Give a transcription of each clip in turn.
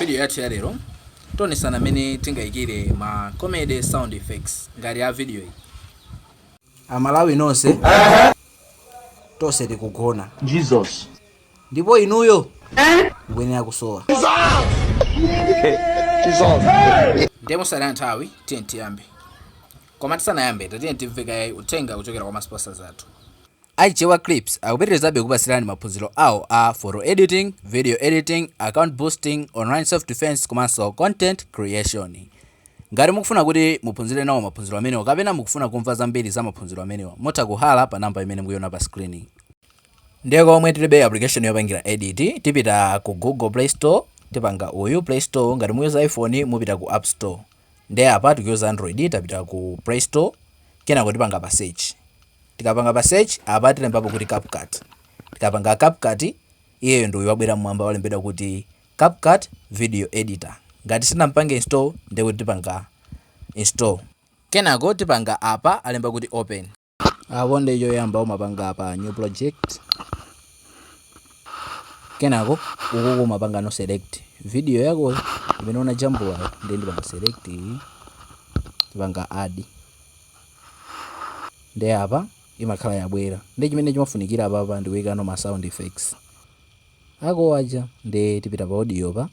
Vidiyo yathu ya lero tionesana mmene tingayikire ma comedy sound effects ngati a vidiyo iyi. Amalawi nonse tonse tikugona Jesus. ndipo inuyo mukuyenera kusowa ndiye mosataya nthawi tiyeni tiyambe koma tisanayambe tatiyeni timve kaye uthenga kuchokera kwa ma sponsors athu A Chewa Clips akupitirizabe kupatsirani maphunziro awo a photo editing, video editing, account boosting, online self defense komanso content creation. Ngati mukufuna kuti muphunzire nawo maphunziro amenewa kapena mukufuna kumva zambiri za maphunziro amenewa, mutha kuhalla pa namba imene mukuiona pa screen. Ndiye komwe tilibe application yopangira edit, tipita ku Google Play Store, tipanga uyu Play Store, ngati muyuza iPhone mupita ku App Store. nde apa tikuyuza android tapita ku play store kenako tipanga pa search tikapanga pa search apa tilembapo kuti CapCut tikapanga CapCut iyeyo ndi uyu wabwera mmwamba walembedwa kuti CapCut video editor ngati sitinampange install ndekuti tipanga install kenako tipanga apa alemba kuti open Apo ndiye choyamba umapanga pa new project. Kenako ukuku umapangano select video yako imene unajambulayo ndiye ndipanga select iyi. Ndipanga add. Ndiye apa imakhala yabwera. Ndiye chimene chimafunikira apapa ndi kuikano ma sound effects ako aja ndiye tipita pa audio pa.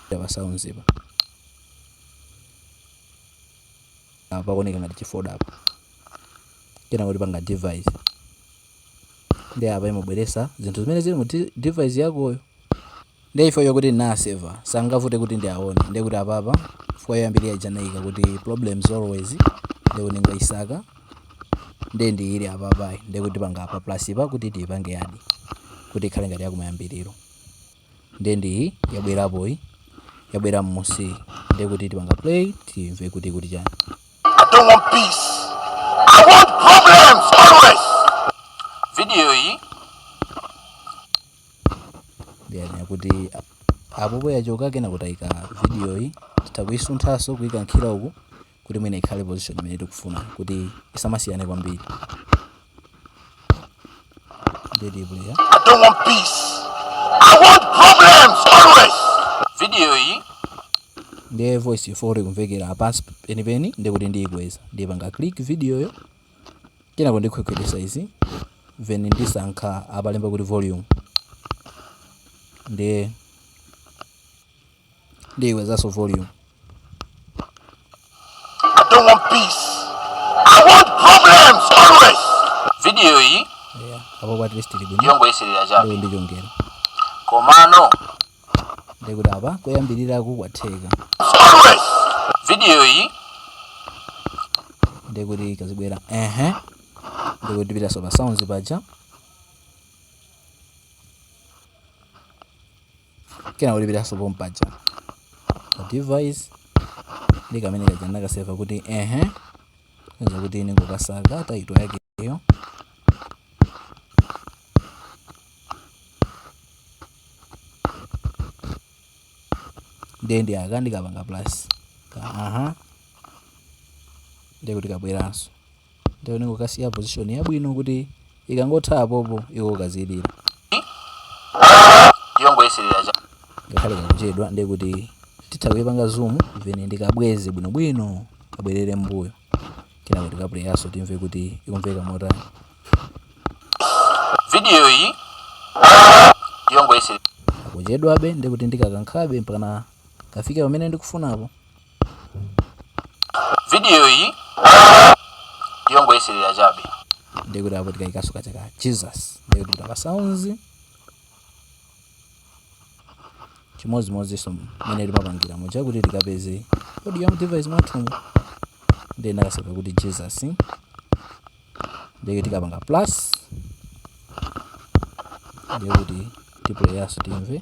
Pa sounds pa. apa pakuoneka ngati chifolder apa kenako tipanga device ndi apa imabweresa zinthu zimene zili mu device yakoyo nde ife chifukwa chokuti ndinaseva sangavute kuti ndiaone ndi kuti apa apa pa yoyambirira ija ndinaika kuti problems always ndi kuti ndingaisaka ndi ndi ili apa apa ndi kuti tipanga pa plus pa kuti tiipange add kuti ikhale ngati yakumayambiriro nde ndi iyi yabwerapo iyi yabwera mmusi nde kuti tipanga play timve kuti ikuti chani I don't want peace. I want problems always. Video iyi ndiye ndiye kuti apopo yachoka kenako tayika video iyi titha kuyisunthanso kuyikankhira uku kuti mwina ikhale position imene tikufuna kuti isamasiyane kwambiri nde ndi player I don't want peace. I want problems always. Video iyi ndiye voice yafuna kumvekera pansi penipeni ndikuti ndiyikweza ndipanga click videoyo kenako ndikhwekhwetesa izi then ndisankha apalemba kuti volume ndiye Ndiikwezanso volume. I don't want peace. I want problems always. Video iyi Yeah. Apo at least tili bwino. yongoyeserera chabe Ndiye ndichongera. komano Ndiye kuti apa koyambirira kukwatheka. Always. Video iyi Ndiye kuti kazibwera. Ehe. Ndiye kuti tipitanso pa sounds paja. kena ndipitanso pompaja pa device ndi kamene kaja ndakaseva kuti ehe nza kuti ndingokasaka title yakeyo ndiye ndi aka ndikapanga plus ka aha ndiye kuti kabweranso Ndiye ndingokasiya position yabwino kuti ikangotha apopo iko kazilira. Yongoyeserera chabe. Ngakhale kakuchedwa ndiye kuti titha kuipanga zoom mwina ndikabweze bwinobwino kabwerere mbuyo. Kenako tikapuleyanso timve kuti ikumveka motani. Video iyi yongoyeserera. Kakuchedwabe ndiye kuti ndikakankhabe mpakana kafike pamene ndikufunapo. video iyi yongoyeserera chabe ndekuti apo tikaikaso kaja ka jesus ndekuti tipita pa sounds chimodzimodzinso mmene timapangira muja kuti tikapeze audio ya mdevice mwathumu ndiye ndakaseva kuti jesus nde tikapanga plus ndekuti tipuleyaso timve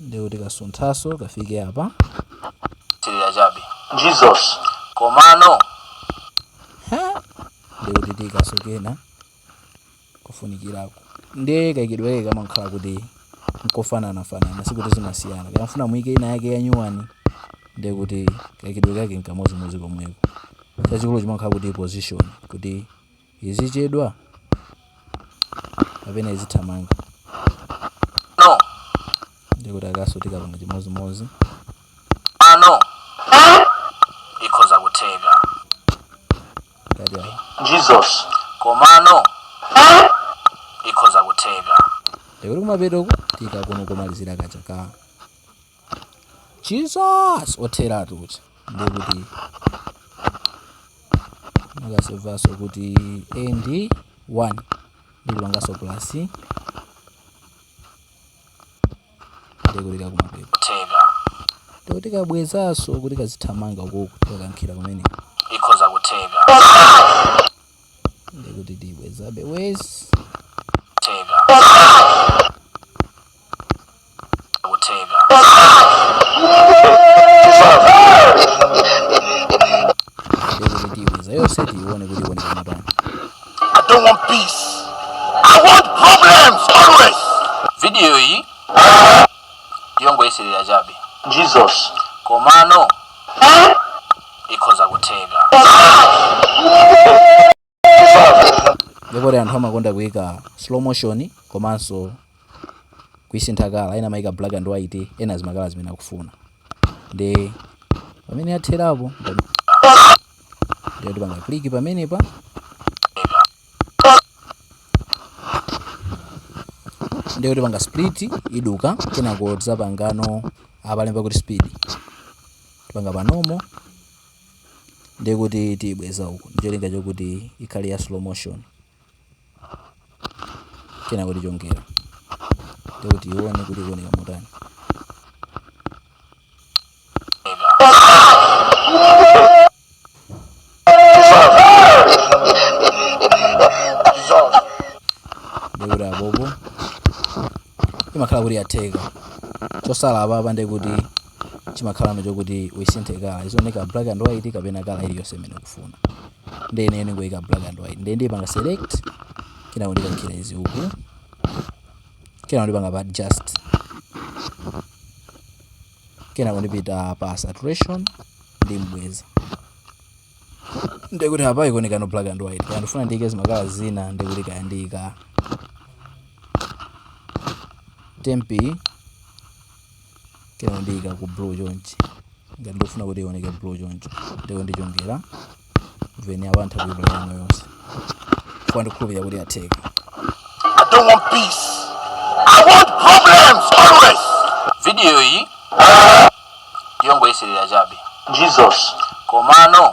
ndekuti tikasunthaso kafike apa yeserera chabe jesus komano ha ndekuti tiikaso kena kufunikirako ndiye kaikidwe kake kamakhala kuti nkofananafanana sikuti zimasiyana kaya mufuna muike ina yake yanyuwani ndiye kuti kaikidwe kake nkamozimozi komweko chachikulu chimakhala kuti position kuti Izichedwa? Kapena izithamanga? No. Ndiye kuti akaso tikapanga chimodzimodzi. Ah, no. Ikhoza kutheka. Ngati ayi. Jesus. Komano ikhoza kutheka. Ndiye kuti kumapeto uku tiikako komalizira kaja ka jesus otheratu uja ndiye kuti ndinakasevaso kuti end 1 ndikupangaso plus ndikukaika kumapeto theka ndekuti tikabwezaso kuti kazithamanga kuku tikakankhira kumene ikhoza kutheka ndekuti tibwezabe ikhoza kutheka tiibweza yonse tiiwone kuti ikuoneka motani I don't want peace. I want problems always. vidiyo iyi yongoyeserera chabe Jesus. komano ikhoza kutheka ndi poti anthu amakonda kuika slow motion komanso kuisintha kala ena amaika black and white ena zimakala zimene akufuna ndi pamene yatherapo ndiye tipanga kliki pamenepa ndiye tipanga split iduka kenako tizapangano apalemba kuti speed tipanga panomo ndekuti tiyibweza uku ndicholinga chokuti ikhale ya slow motion kenako tichongera ndekuti tiione kuti ikuoneka motani ndekuti apopo imakhala kuti yatheka chosala apapa ndekuti chimakhalano chokuti uisinthe kala izioneka black and white kapena kala iliyonse imene ukufuna ndiye ine ndingoika black and white ndiye ndipanga select kenako ndikankhira izi uku kenako ndipanga pa adjust kenako ndipita pa saturation ndiibweza ndikuti apa ikuonekano black and white kaya ndifuna ndiyike zimakala zina ndikuti kaya ndiyika tempi kaya ndiyika ku blue chonchi ngati ndifuna kuti ioneke blue choncho ndikuti ndichongera veni apa ntha kuiplayano yonse apa ndikhulupirira kuti yatheka I don't want peace. I want problems always. Video yi yongoyeserera chabe Jesus. komano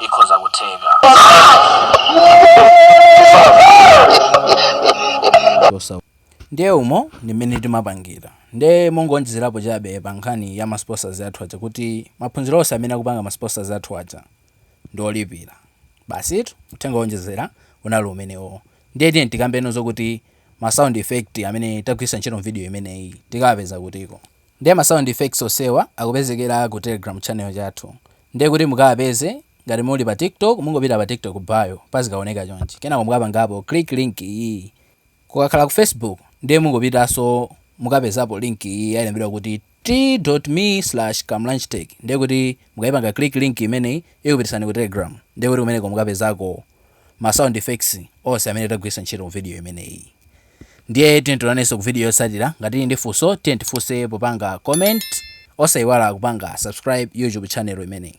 ikhoza kutheka ndiye umo ndi mmene timapangira ndiye mongonjezerapo chabe pa nkhani ya masponsors athu aja kuti maphunziro onse amene akupanga masponsors athu aja ndi olipira basitu uthenga wonjezera unali umenewo ndiye tiye tikambeko zokuti ma sound effect amene tagwiritsa ntchito m'video imeneyi tikawapeza kutiko? Ndiye ma sound effects onsewa akupezekera ku telegram channel chathu ndiye kuti mukawapeze ngati muli pa TikTok mungopita pa TikTok bio pazikaoneka chonchi kenako mukapangapo click link iyi, kukakhala ku Facebook ndiye mungopitanso mukapezapo link iyi yalembedwa kuti. T.me slash kamlanjtech ndiye kuti mukaipanga click link imeneyi ikupitisani ku telegram ndiye kuti kumeneko mukapezako ma sound effects onse amene tagwiritsa ntchito mu video imeneyi ndiye tiyeni tionanenso ku video yotsatira ngati muli ndi funso tiyeni tifunse popanga comment osaiwala kupanga subscribe youtube channel imeneyi.